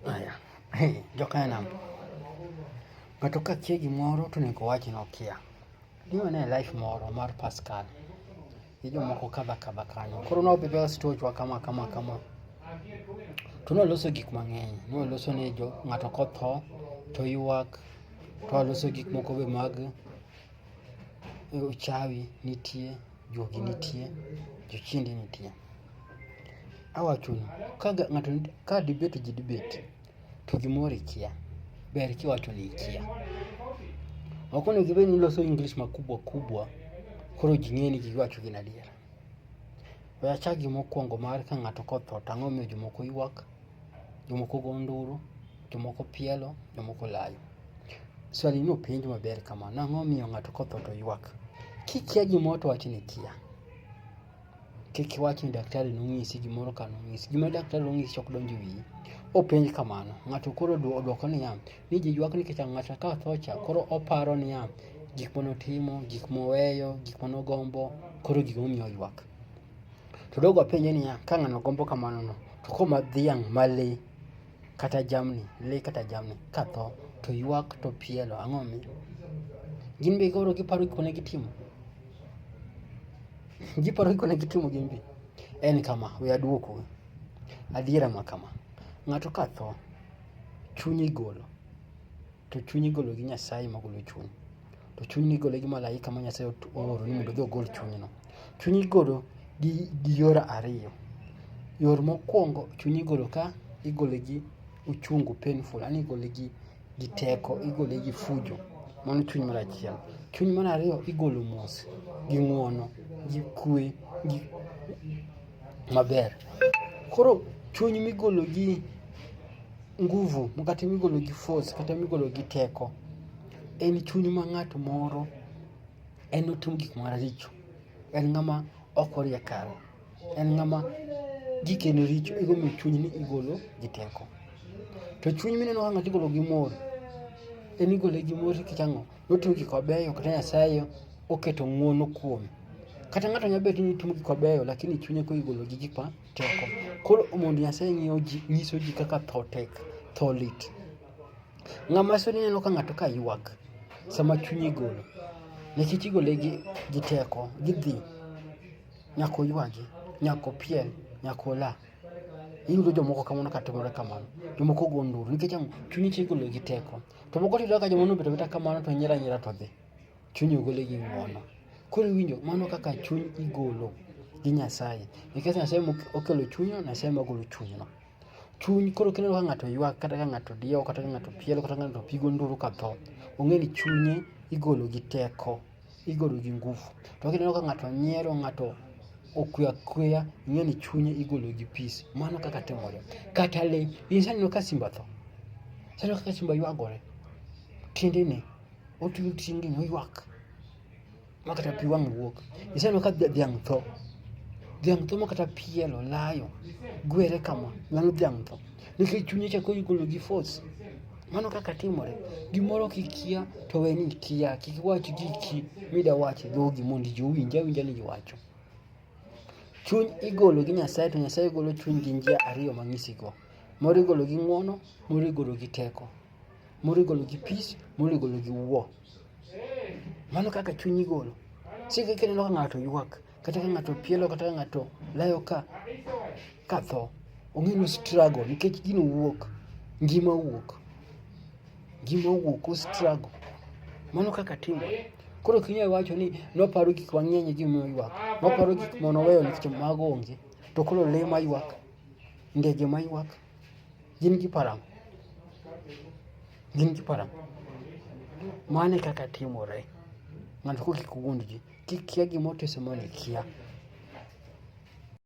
Haya, hey, Jokana, ng'ato ka kia gimoro to onego owach ni okia. Niwane life moro mar Pascal gi jomoko kadha kadha kanyo. Koro ne wabedo stochwa kama kama kama, to ne waloso gik mang'eny. Ne waloso ne jo ng'ato kotho to ywak, to waloso gik moko be mag uchawi nitie. Juogi nitie, jochiende nitie. Awachonu, ka ng'ato ka dibet ji dibet, to gimoro ikia. Ber kiwacho ni ikia. Ok onego ibed ni iloso English makubwa kubwa koro ji ng'eni giwacho gin adier. We achak gi mokwongo mar ka ng'ato kotho to ang'o momiyo jomoko ywak, jomoko go nduru. Jomoko pielo, jomoko layo. Swali ni openj maber kama, nang'o miyo ng'ato kotho to ywak? Kikia gimoro to wach ni ikia. Kik iwach ni daktari nonyisi gimoro ka nonyisi. Gima daktari nonyisi ok donj e wiyi. Openj kamano. Ng'ato koro odwoko niya, ni ji ywak nikech ng'ato ka otho cha koro oparo niya, gik mane otimo, gik moweyo, gik mane ogombo, koro gik momiyo oywak. To dogo apenje niya, ka ng'ano gombo kamano no, to koma dhiang' ma le kata jamni le kata jamni katho to ywak to pielo ang'o mi gin be koro giparo gikone gitimo giparo gikone gitimo gin be en kama we aduoko adiera ma kama ng'ato katho chunye igolo To chuny igolo gi Nyasaye ma golo chuny. To chuny ni igolo gi malaika ma Nyasaye ooro ni mondo odhi ogol chunyno. Chuny igolo gi, gi yor ariyo. Yor mokwongo chuny igolo ka igole gi uchungu painful, yani igole gi, gi teko, igole gi fujo. Mano chuny mar achiel. Chuny mar ariyo igolo mos, gi ng'uono, gi kwe, gi maber. Koro chuny migolo gi nguvu kata migolo gi force kata migolo gi teko en chuny ma ng'at moro en otim gik maricho en ng'ama ok orie kare en ng'ama gikene richo igomi chuny ni igolo gi teko to chuny mineno ka ng'ato igolo gi mor en igole gi mor nikech ang'o notim gik mabeyo kata nyasaye oketo ng'uono kuome Kata ng'ato nyalo bedo ni timo gik mabeyo lakini chunye koro igolo gi gik ma teko. Koro mondo Nyasaye ng'iyo ji, nyiso ji kaka tho tek, tho lit. Ng'ama soni neno ka ng'ato ka ywak sama chunye igolo. Nikech igole gi, gi teko, gidhi. Nyaka oywagi, nyaka opiel, nyaka ola. Iyudo jomoko kamano ka timore kamano. Jomoko go nduru nikech ang'o? Chunyi cha igolo gi teko. To moko tiyudo ka jomoko nobet abeta kamano to nyiero anyiera to dhi. Chuny ogole gi ng'wono. Koro iwinjo mano kaka chuny igolo gi Nyasaye. Nikech Nyasaye mokelo chunyno, Nyasaye magolo chunyno. Chuny koro kineno ka ng'ato ywak kata ka ng'ato diewo kata ka ng'ato pielo kata ka ng'ato pigo nduru ka tho, ong'e ni chunye igolo gi teko, igolo gi ngufu. To kineno ka ng'ato nyiero, ng'ato okwe akweya, ing'e ni chunye igolo gi peace. Mano kaka timore. Kata le, iseneno ka simba tho? Iseneno kaka simba ywagore? Tiende ni. Otuting in York. Makata pi wang' wuok. Iseno ka dhiang' tho. Dhiang' tho makata piel olayo. Gwere kama. Mano dhiang' tho. Nikech chunye chako igolo gi force. Mano kaka timore. Gimoro kikia to we ni ikia. Kik iwach giki mida wacho dhogi mondo ji owinj awinja ni iwacho. Chuny igolo gi Nyasaye to Nyasaye golo chuny gi njia ariyo mang'isigo. Moro igolo gi ng'wono, moro igolo gi teko. moro igolo gi peace moro igolo gi war mano kaka chuny igolo sike kineno ka ng'ato ywak kata ka ng'ato pielo kata ka ng'ato layo ka ka tho ong'e ni struggle nikech gino wuok ngima wuok ngima wuok o struggle mano kaka timore koro ok inyal wacho ni noparo gik mang'eny e gimomiyo ywak noparo gik mane oweyo nikech mago onge to koro lee maywak ndege maywak Gin gi paro ang'o? Gin gi paro ang'o? Mano e kaka timore. Ng'ato kok kik wuondgi. Kik kia gima otisomo ni ikia.